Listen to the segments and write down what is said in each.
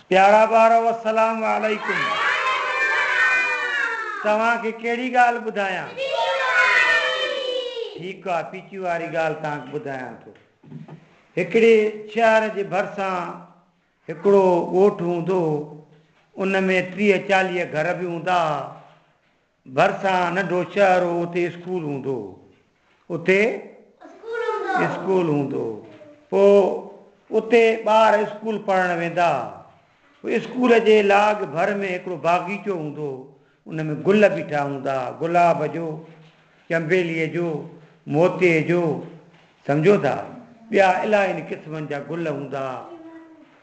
پيارا ٻارؤ السلام عليڪم توهان کي ڪهڙي ڳالهه ٻڌايان؟ ٺيڪ آ پيچي واري ڳالهه توهان کي ٻڌايان ٿو هڪڙي شهر جي ڀرسان هڪڙو ڳوٺ هوندو هو ان ۾ ٽيهه چاليهه گهر به هوندا ها ڀرسان ننڍو شهر هو اتي اسڪول هوندو هو. اتي اسڪول هوندو هو. پوء اتي ٻار اسڪول پڙهڻ ويندا ها. پوء اسڪول جي لاڳ ڀر ۾ هڪڙو باغيچو هوندو هو. ان ۾ گل بيٺا هوندا ها. گلاب جو، چنبيلي جو، موتي جو سمجهو ٿا ٻيا الاهين قسمن جا گل هوندا ها.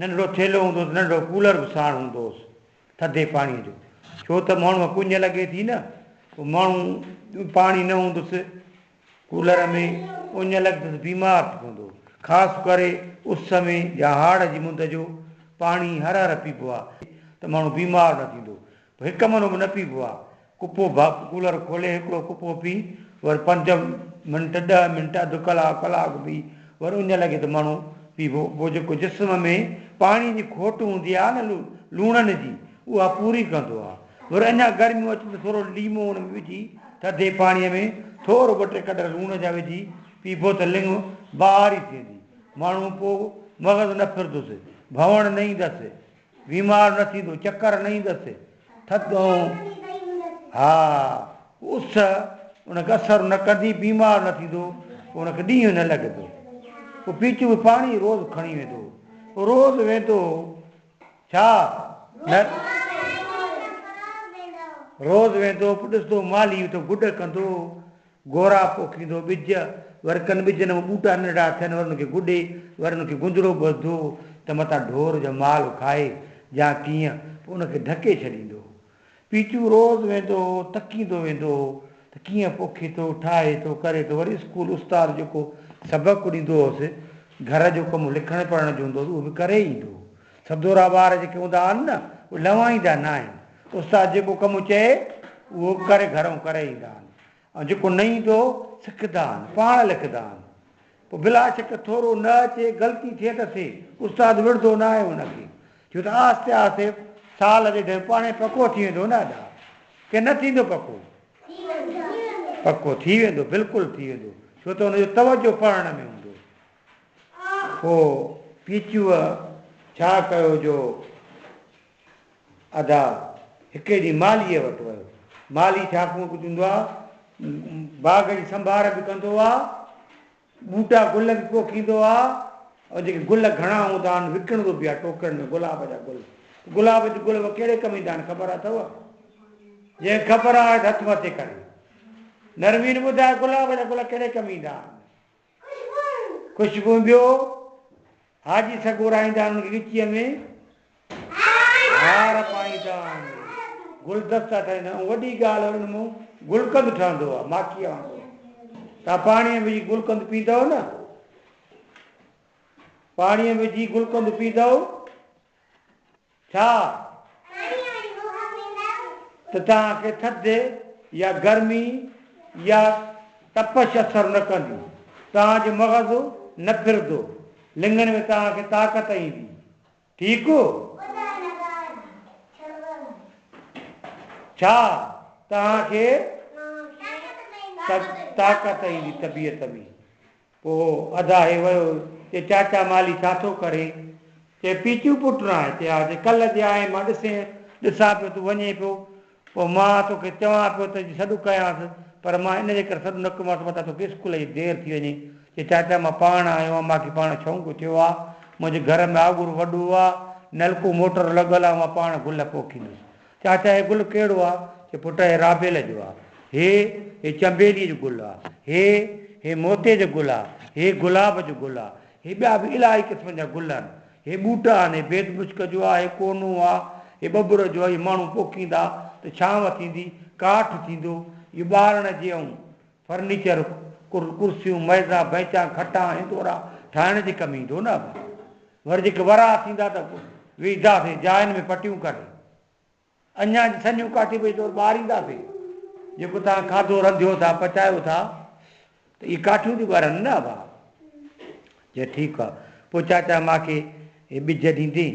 ننڍڙو ٿيلهو هوندو هوس، ننڍڙو ڪولر به ساڻ هوندو هوس ٿڌي پاڻيء جو، ڇو ته ماڻهوء ڪڃ لڳي ٿي نه، پوء ماڻهو پاڻي نه هوندس ڪولر ۾ ڪڃ لڳندس بيمار ٿي پوندو، خاص ڪري اس ۾ يا هاڙ جي مند جو پاڻي هر هر پيبو آهي ته ماڻهو بيمار نه ٿيندو، هڪ منو به نه پيئبو آ. ڪپو ڀاڪ ڪولر کولي هڪڙو ڪپو پي ور پنج منٽ ڏهه منٽ اڌ ڪلاڪ ڪلاڪ به ور اڃ لڳي ته منو پيئبو پوء جيڪو جسم ۾ پاڻي جي کوٽ هوندي آ نه لوڻن جي اها پوري ڪندو آ ور اڃا گرميون اچن ته ٿورو ليمو ان ۾ وجهي ٿڌي پاڻي ۾ ٿورو ٻه ٽي ڪڏر لوڻ جا وجهي پيئبو ته لڱ بهاري ٿيندي ماڻهو پوء مغز نه ڦردس ڀوڻ نه ايندس بيمار نه ٿيندو، چڪر نه ايندس، ٿڌ ۽ ها اس ان کي اثر نه ڪندي، بيمار نه ٿيندو، پوء ان کي ڏينهن نه لڳندو. پوء پيچو ۾ پاڻي روز کڻي ويندو. روز ويندو ڇا نه؟ روز ويندو، پوء ڏسندو مالهي اٿو گڏ ڪندو. گورا پوکيندو ٻج، ور ڪن ٻجن مان ٻوٽا ننڍڙا ٿين، ور ان کي گڏي، ور ان کي گندڙو ٻڌو ته متان ڍور جو مال کائي يا ڪيئن، پوء ان کي ڍڪي ڇڏيندو هو. پيچو روز ويندو هو، تڪيندو ويندو هو ته ڪيئن پوکي ٿو، ٺاهي ٿو، ڪري ٿو، وري اسڪول استاد جيڪو سبق ڏيندو هوس، گهر جو ڪم لکڻ پڙهڻ جو هوندو هوس، اهو به ڪري ايندو هو. سڌورا ٻار جيڪي هوندا آهن نه، اهي لنوائيندا ناهن، استاد جيڪو ڪم چئي، اهو ڪري گهرئون ڪري ايندا آهن. ۽ جيڪو نه ايندو سکدا آهن پاڻ لکندا آهن پوء بلا شڪ ٿورو نه اچي غلطي ٿئي ته سي استاد وڙهندو نه آهي ان کي ڇو ته آهستي آهستي سال اڏي ڊيهه پاڻهي پڪو ٿي ويندو نه ادا ڪي نه ٿيندو پڪو پڪو ٿي ويندو بلڪل ٿي ويندو ڇو ته ان جو توجه پڙهڻ ۾ هوندو پوء پيچوء ڇا ڪيو جو ادا هڪڙي ڏينهن مالهيء وٽ ويو. مالهي ڇاڪوئن ڪجهه هوندو آ. باغ جي سنڀار به ڪندو آ. ٻوٽا گل به پوکيندو آ. ۽ جيڪي گل گهڻا هوندا آهن وڪڻندو به آ ٽوڪرن ۾ گلاب جا گل. گلاب جي گل به ڪهڙي ڪم ايندا آهن خبر اٿئو؟ جنهن خبر آهي ته هٿ مٿي ڪري. نرمين ٻڌاء گلاب جا گل ڪهڙي ڪم ايندا آهن؟ ڪجهه به ٻيو حاجي سڳو راهيندان ان کي ڳچيء ۾ هار پائيندا آهن، گلدستا ٺاهيندا آهن. وڏي ڳالهه انهن مان گلقند ٺهندو آهي، ماکيء وانگر. توهان پاڻيء ۾ وجهي گلقند پيئندؤ نه، پاڻيء ۾ وجهي گلقند پيئندؤ ٿا ته توهان کي ٿڌ يا گرمي يا تپش اثر نه ڪندي، توهان جو مغز نه ڦرندو، لڱڻ ۾ توهان کي طاقت ايندي. ٺيڪ هو. ڇا توهان کي طاقت ايندي طبيعت ۾؟ پوء ادا هي ويو، چي چاچا مالهي ڇا ٿو ڪرين؟ چي پيچو پٽ نه آهي؟ چي ها، چي ڪلهه جي آئين مان ڏسين، ڏسان پيو تون وڃين پيو، پوء مان توکي چوان پيو ته جي سڏ ڪيانس، پر مان ان جي ڪري سڏ نه ڪيومانس متان توکي اسڪول جي دير ٿي وڃي، چي چاچا مان پاڻ آيو آهيان، مان کي پاڻ شونق ٿيو آ، منهنجي گهر ۾ آڳر وڏو آ، نلڪو موٽر لڳل آ، مان پاڻ گل پوکيندس، چاچا هي گل ڪهڙو آ؟ چي پٽ هي رابيل جو آ. هي هي چنبيلي جو گل آ. هي هي موتي جو گل آ. هي گلاب جو گل آ. هي ٻيا به الاهي قسمن جا گل آهن. هي ٻوٽا آهن. هي بيد مشڪ جو آ. هي ڪونو آ. هي ٻٻر جو آ. اهي ماڻهو پوکيندا ته ڇانو ٿيندي، ڪاٺ ٿيندو. اهو ٻارڻ جي ائون فرنيچر، ڪرسيون، ميزا، بئنچا، کٽا، هندورا ٺاهڻ جي ڪم ايندو نه ابا. ور جيڪي ورهاء ٿيندا ته ويهنداسين جاين ۾ پٽيون ڪري. اڃا جي سنيون ڪاٽي پئي طور ٻاهر اينداسين. جيڪو توهان کاڌو رنڌيو ٿا، پچايو ٿا ته اهي ڪاٺيون ٿيون ٻرن نه ابا. چي ٺيڪ آ. پوء چاچا ماکي هي ٻج ڏيندين.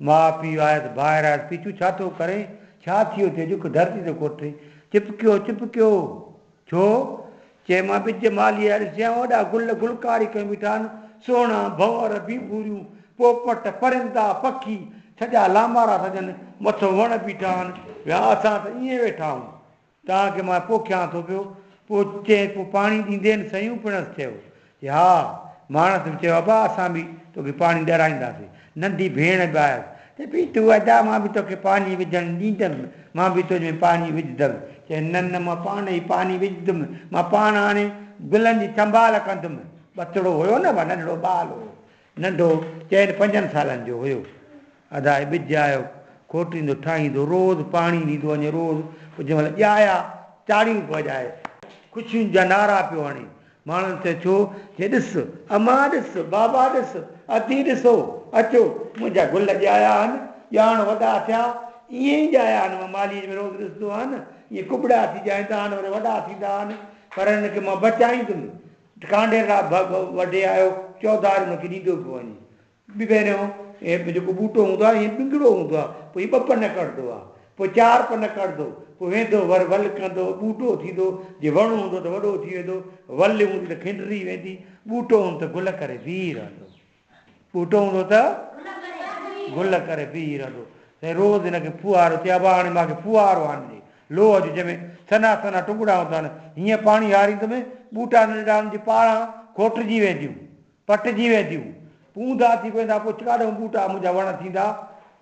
ماء پيء آيس ڀائر آيس پيچو ڇا ٿو ڪرين ڇا ٿيو ٿئي جڪ ڌرتي تي ڪوٺي چپ ڪيو چپ ڪيو ڇو چئي مان ٻج مالهي آيا ڏسيان وڏا گل گلڪاري ڪيون بيٺا آهن سهڻا ڀنور ڀينڀوريون پوپٽ پرندا پکي سڄا لامارا سڄن مٿو وڻ بيٺا آهن ويا اسان ته ائين ويٺا آهون. توهان کي مان پوکيان ٿو پيو. پوء چيائين، پوء پاڻي ڏيندين؟ سيون پڻس چيو، جي ها. ماڻس به چيو، ابا اسان به توکي پاڻي ڏيرائينداسين. ننڍي ڀيڻ به آيس. چيائين، پيتو ادا مان به توکي پاڻي وجهڻ ڏيندم. مان به تنهنجي ۾ پاڻي وجهندم. چيائين، نه نه مان پاڻ ئي پاڻي وجهندم. مان پاڻ هاڻي گلن جي سنڀال ڪندم. ٻچڙو هيو نه، ننڍڙو ٻال هو. ننڍو چئن پنجن سالن جو هيو. ادا هي ٻج آيو، کوٽيندو، ٺاهيندو، روز پاڻي ڏيندو وڃي، روز پوء جنهن مهل ڄايا، تاڙيون پيو وڄائي، خوشين جا نعرا پيو هڻي، ماڻهن چيو ڇو؟ چي ڏس، امان ڏس، بابا ڏس، ادي ڏسو، اچو، منهنجا گل ڄايا آهن، ڄاڻ وڏا ٿيا، ائين ئي ڄايا آهن، مان مالهيء ۾ روز ڏسندو آهيان، ائين ڪٻڙا ٿي ڄائيندا آهن، وري وڏا ٿيندا آهن، پر هنن کي مان بچائيندم، ڍڪانڍير را ڀ ڀ وڍي آيو، چوڌار ان کي ڏيندو پيو وڃي. پهريون هي جيڪو ٻوٽو هوندو آهي، هيئن ڏنگڙو هوندو آهي، پوء هي ٻه پن ڪڍندو آهي، پوء چار پن ڪڍندو، پوء ويندو ور ول ڪندو، ٻوٽو ٿيندو، جي وڻ هوندو ته وڏو ٿي ويندو، ول هوندي ته کنڊري ويندي، ٻوٽو هوندو ته گل ڪري بيهي رهندو. ٻوٽو هوندو ته گل ڪري پيئي رهندو. سائين روز هن کي ڦوهارو چئي ابا هاڻي مان کي ڦوهارو آڻجي لوهه جو جنهن ۾ سنها سنها ٽنگڙا هوندا آهن هيئن پاڻي هاريندم ٻوٽا ننڍڙا هن جي پاڙان کوٽجي وينديون پٽجي وينديون پوندا ٿي پويندا پوء ڪاڏهون ٻوٽا منهنجا وڻ ٿيندا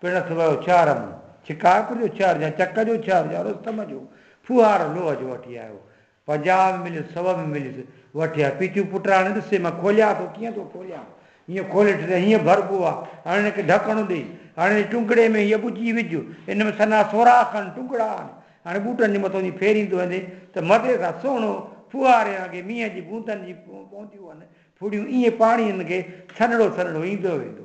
پڻس ويو ڇهر مون شڪارپور جو ڇهر جا چڪ جو ڇهر جا رستم جو ڦوهارو لوهه جو وٺي آيو پنجاهه به مليس سؤ به مليس وٺي آ. پيتيون پٽراڻي ڏسي مان کوليان ٿو ڪيئن ٿو کوليان هيئن کولي ٺٽي هيئن ڀربو آ هاڻي هن کي ڍڪڻو ڏئي هاڻي هن ٽنگڙي ۾ هيء ٻجي وجهه ان ۾ سنا سوراخ آهن ٽنگڙا آهن هاڻي ٻوٽن جي مٿو ائين ڦيريندو ويندي ته مزي سان سهڻو ڦوهاري وانگي مينهن جي بوندن جي پونديون هن ڦڙيون ائين پاڻي هن کي سنهڙو سنهڙو ايندو ويندو.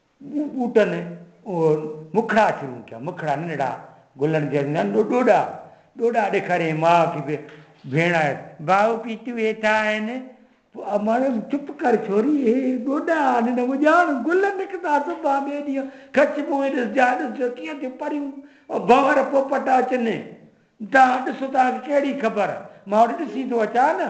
ٻوٽن اهي مکڙا شروع ٿيا، مکڙا ننڍڙا، گلن جي اڳيان ڏوڏا، ڏوڏا ڏيکاريائين ماء کي به ڀيڻ آهي. ڀاء پيتيون هيٺان آهن. امڙ چپ ڪر ڇوري، اهي ڏوڏا آهن نه اڄاڻ گل نڪتا صبح ٻئي ڏينهن کچ منهن ڏس جاء ڏس جو ڪيئن ٿيون پريون ڀنور پوپٽ اچن، توهان ڏسو توهان کي ڪهڙي خبر مان هوڏي ڏسي ٿو اچان نه.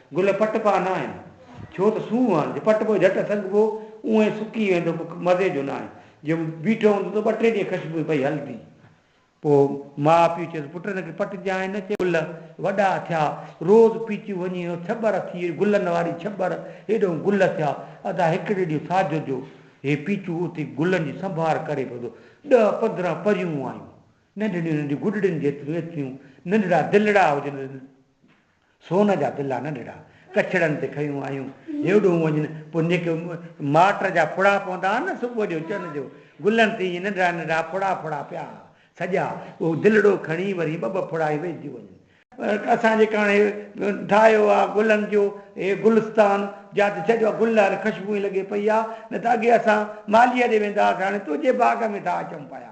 گل پٽ پا ناهن، ڇو ته سونهن آهن، جي پٽ پوء جهٽ سنگهبو، اونهن ئي سڪي ويندو، پوء ڪو مزي جو ناهي. جي بيٺو هوندو ته ٻه ٽي ڏينهن خشبوء پئي هلندي. پوء ماء پيء چيس، پٽ هن کي پٽجانء نه. چي گل وڏا ٿيا، روز پيچيون وڃي هو ڇٻر ٿي، گلن واري ڇٻر، هيڏهون گل ٿيا. ادا هڪڙي ڏينهن ساجهو جو هي پيچو اٿي گلن جي سنڀار ڪري پوندو. ڏهه پندرهن پريون آيون، ننڍڙيون ننڍيون گڏڙين جيتريون ايتريون ننڍڙا دلڙا هجن، سون جا بلا نه نڙا، ڪڇڙن تي کنيون آيون، هيوڏهون وڃن، پوء نڪ مارٽر جا ڦڙا پوندا ها نه، صبح جو چن جو، گلن تي ائين ننڍڙا ننڍڙا ڦڙا ڦڙا پيا ها، سڄا، اهو دلڙو کڻي وري ٻه ٻه ڦڙا ئي ويهجي وڃن. اسان جيڪا هاڻي ٺاهيو آ گلن جو هي گلستان، جا ته سڄا گل هاڻي خشبوئين لڳي پئي آ، نه ته اڳي اسان مالهيء ڏي ويندا هئاسين، هاڻي تنهنجي باغ ۾ ٿا اچون پيا.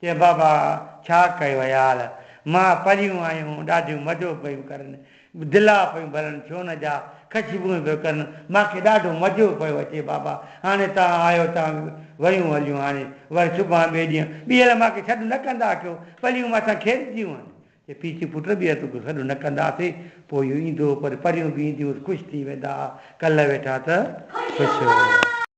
چي بابا ڇا ڪيو عيال، مئا پريون آيون ڏاڍيون مزو پيون ڪرن، دلا پيون ڀرن سون جا، خشبوئون پيون ڪرن، مان کي ڏاڍو مزو پيو اچي بابا، هاڻي توهان آيو ته ويون هليون هاڻي وري سڀان ٻئي ڏينهن ٻيهر مان کي سڏ نه ڪندا ڪيو، پريون مان سان کيڏنديون هن. چي پيء چي پٽ ٻيهر تو کي سڏ نه ڪنداسين، پوء اهو ايندو پر پريون به اينديون هوس خوش ٿي ويندا ها، ڪلهه ويٺا ته خوش هئا.